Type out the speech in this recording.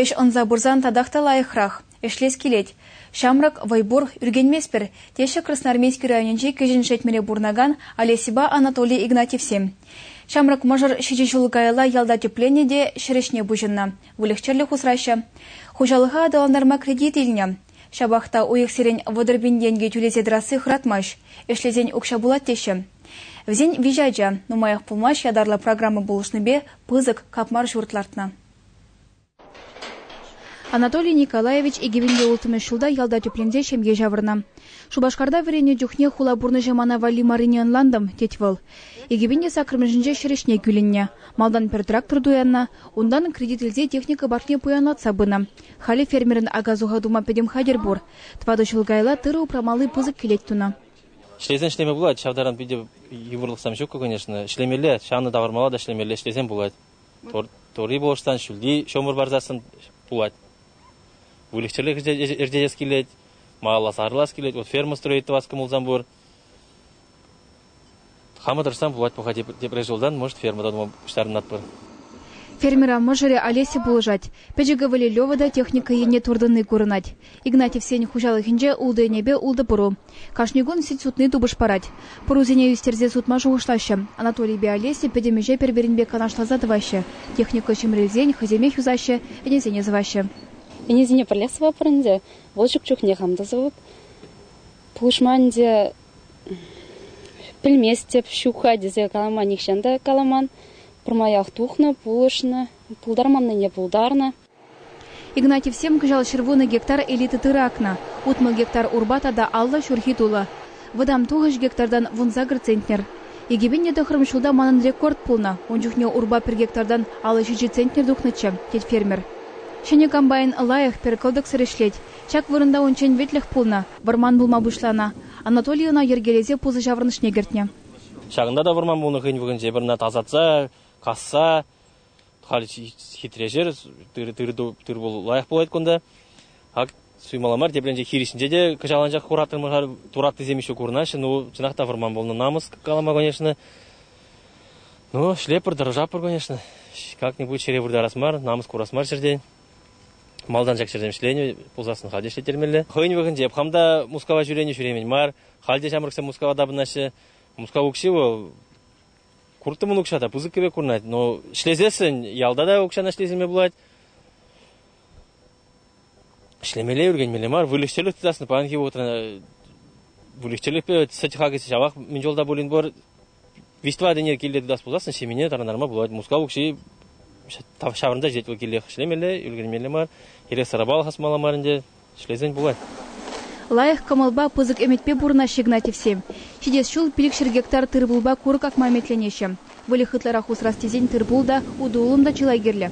Ӗҫ ӑнса пырсан татах та лайӑхрах, ӗҫлес килет. Ҫамрӑк, вӑй пур, ӳркенместпӗр, теҫҫӗ Красноармейски районӗнчи Кӗҫӗн Шетмӗре пурӑнакан Олесьӑпа Анатолий Игнатьевсем. Ҫамрӑк мӑшӑр ҫичӗ ҫул каялла ялта тӗпленнӗ те ҫӗр ӗҫне пуҫӑннӑ, выльӑх-чӗрлӗх усраҫҫӗ. Хуҫалӑха аталантарма кредит илнӗ. Ҫапах та уйӑхсерен вӑтӑр пин тенкӗ тӳлесе тӑрасси хӑратмасть, ӗҫлесен укҫа пулать теҫҫӗ. Вӗсен виҫӗ ача, нумаях пулмасть ятарлӑ программа пулӑшнипе пысӑк капмар ҫурт лартнӑ. Анатолий Николаевич икӗ-виҫӗ улттӑмӗш ҫулта ялта тӗпленсе ҫемье ҫавӑрнӑ. Шупашкарта вӗреннӗ чухне хула пурнӑҫӗ мана валли маррине ӑнлантӑм, тет вӑл. Икӗ-пин саккӑрмӗшӗнче ҫӗр ӗҫне кӳлӗннӗ. Малтан пӗр трактор туяннӑ, унтан кредит илсе техника паркне пуянлатса пынӑ. Халӗ фермерӑн ака-суха тума пӗтӗм хатӗр пур. Тӑватӑ ҫул каялла тырӑ упрамалли пысӑк кӗлет тунӑ. Ӗҫлесен ӗҫлеме пулать, ҫав таран питӗ йывӑрлӑхсем ҫуккӑ, конечно. Ӗҫлемелле, ҫанӑ тавӑрмалла та ӗҫлемелле, ӗҫлесен пулать. Турри пулӑшсан, ҫӳлти ҫомӑр парсассӑн пулать. Выльӑх-чӗрлӗх ӗрчетес килет, малалла сарӑлас килет. Вот ферма строить тӑвас кӑмӑлсам пур. Хама тӑрӑшсан пулать паха тепре ҫултан, может, фермӑра тума пуҫтарӑнатпӑр. Фермера мӑшӑрӗ Олеся пулӑшать. Пӗчӗк ывӑлӗ Лева та техника енне туртӑнни курӑнать. Игнатьевсен хуҫалӑхӗнче ултӑ ӗнепе ултӑ пӑру. Кашни кун сӗт сутни тупӑш парать. Пӑрусене ӳстерсе сутма шухӑшлаҫҫӗ. Анатолийпе Олеся пӗтӗм ӗҫе пӗр-пӗринпе канашласа тӑваҫҫӗ. Техника ҫӗмрӗлсен хӑйсемех юсаҫҫӗ, ӗнесене сӑваҫҫӗ. Ӗнесене пӗрле сӑватпӑр ӗнтӗ. Вӑл ҫук чухне хам та сӑвӑп. Пулӑшма ӗнтӗ Пӗлместӗп, ҫук-ха тесе калама нихҫан та каламан. Пӗрмаях тухнӑ, пулӑшнӑ, пултарманнине пултарнӑ. Игнатьевсем кӑҫал ҫӗрвунӑ гектар элита тырӑ акнӑ. Утмӑл гектар урпа тата алла ҫурхи тулӑ. Вӑтам тухӑҫ гектартан вунсакӑр центнер. Икӗпеннӗ тӑхрӑм ҫулта манӑн рекорд пулнӑ. Ун чухне урпа пӗр гектартан алла ҫичӗ центнер тухнӑччӗ, тет фермер. Ҫӗнӗ комбайн лайӑх, пӗр кӑлтӑксӑр ӗҫлет. Ҫак вырӑнта унччен вӗтлӗх пулнӑ. Вӑрман пулма пуҫланӑ. Анатолий ӑна йӗркелесе пусӑ ҫаврӑнӑшне кӗртнӗ. Ҫакӑнта та вӑрман пулнӑ хӑйӗн вӑхӑтӗнче пӗр-пӗрне тасатса, касса. Халь хитре ҫӗр, тыр-пул лайӑх пулать кунта. Ак суймалла мар, тепринче хирӗҫнче те кӑҫал анчах хураттӑмӑр, тураттисем еще курнаҫҫӗ. Ну, чӑнах та вӑрман пулнӑ намӑс калама, конечно. Ну, шлеппӗр, тӑрӑшаппӑр, конечно. Как-нибудь чӗре выртарас мар, намӑс курас мар ҫӗртен. Малтан ҫак ҫӗрсем ӗҫленӗ пулсассӑн халь те ӗҫлеттермелле. Хӑйӗн вӑхӑтӗнче хам та Мускава ҫӳренӗ ҫӳремен мар. Халь те ҫамрӑксем Мускава тапӑнаҫҫӗ. Мускав укҫи вӑл курттӑмӑн укҫа та пысӑк пек курӑнать, но ӗҫлесессӗн ялта та укҫана ӗҫлесеме пулать. Ӗҫлемелле, ӳркенмелле мар, выльӑх-чӗрлӗх тытассӑн паянхи вӑхӑтра выльӑх-чӗрлӗхпе сӗт хакӗ ҫавах мӗн чулта пулин пур. Виҫтӑватине килте тытас пулсассӑн ҫемьене тарӑнтарма пулать. Мускав укҫи ҫаврӑнса ҫитет вӑл килех. Ӗҫлемелле, ӳлкермелле мар. Эрех-сӑрапа алхасмалла мар ӗнтӗ. Ӗҫлесен пулать. Лайӑх кӑмӑлпа, пысӑк ӗмӗтпе пурӑнаҫҫӗ Игнатьевсем. Ҫитес ҫул пилӗкҫӗр гектар тырпулпа курӑк акма ӗмӗтленеҫҫӗ. Выльӑх ытларах усрас тесен тырпул та, утӑ-улӑм та чылай кирлӗ.